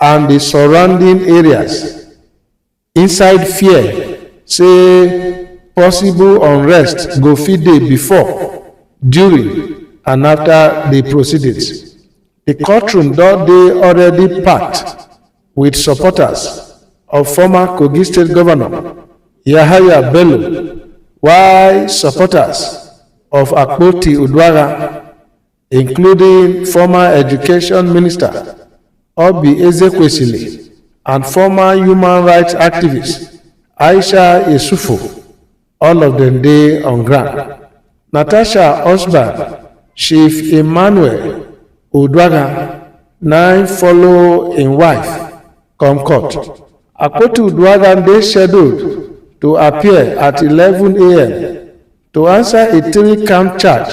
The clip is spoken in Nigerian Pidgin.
and di surrounding areas inside fear say possible unrest go fit dey before during and afta di proceedings di courtroom don dey already packed wit supporters of former kogi state govnor yahaya bello while supporters of akpoti uduaghan including former education minister oby ezekwesili and former human rights activist aisha yesufu all of dem dey on ground natasha osborn chief emmanuel oduaga na im follow im wife come court akpoti uduaga dey scheduled to appear at 11am to answer a three-count charge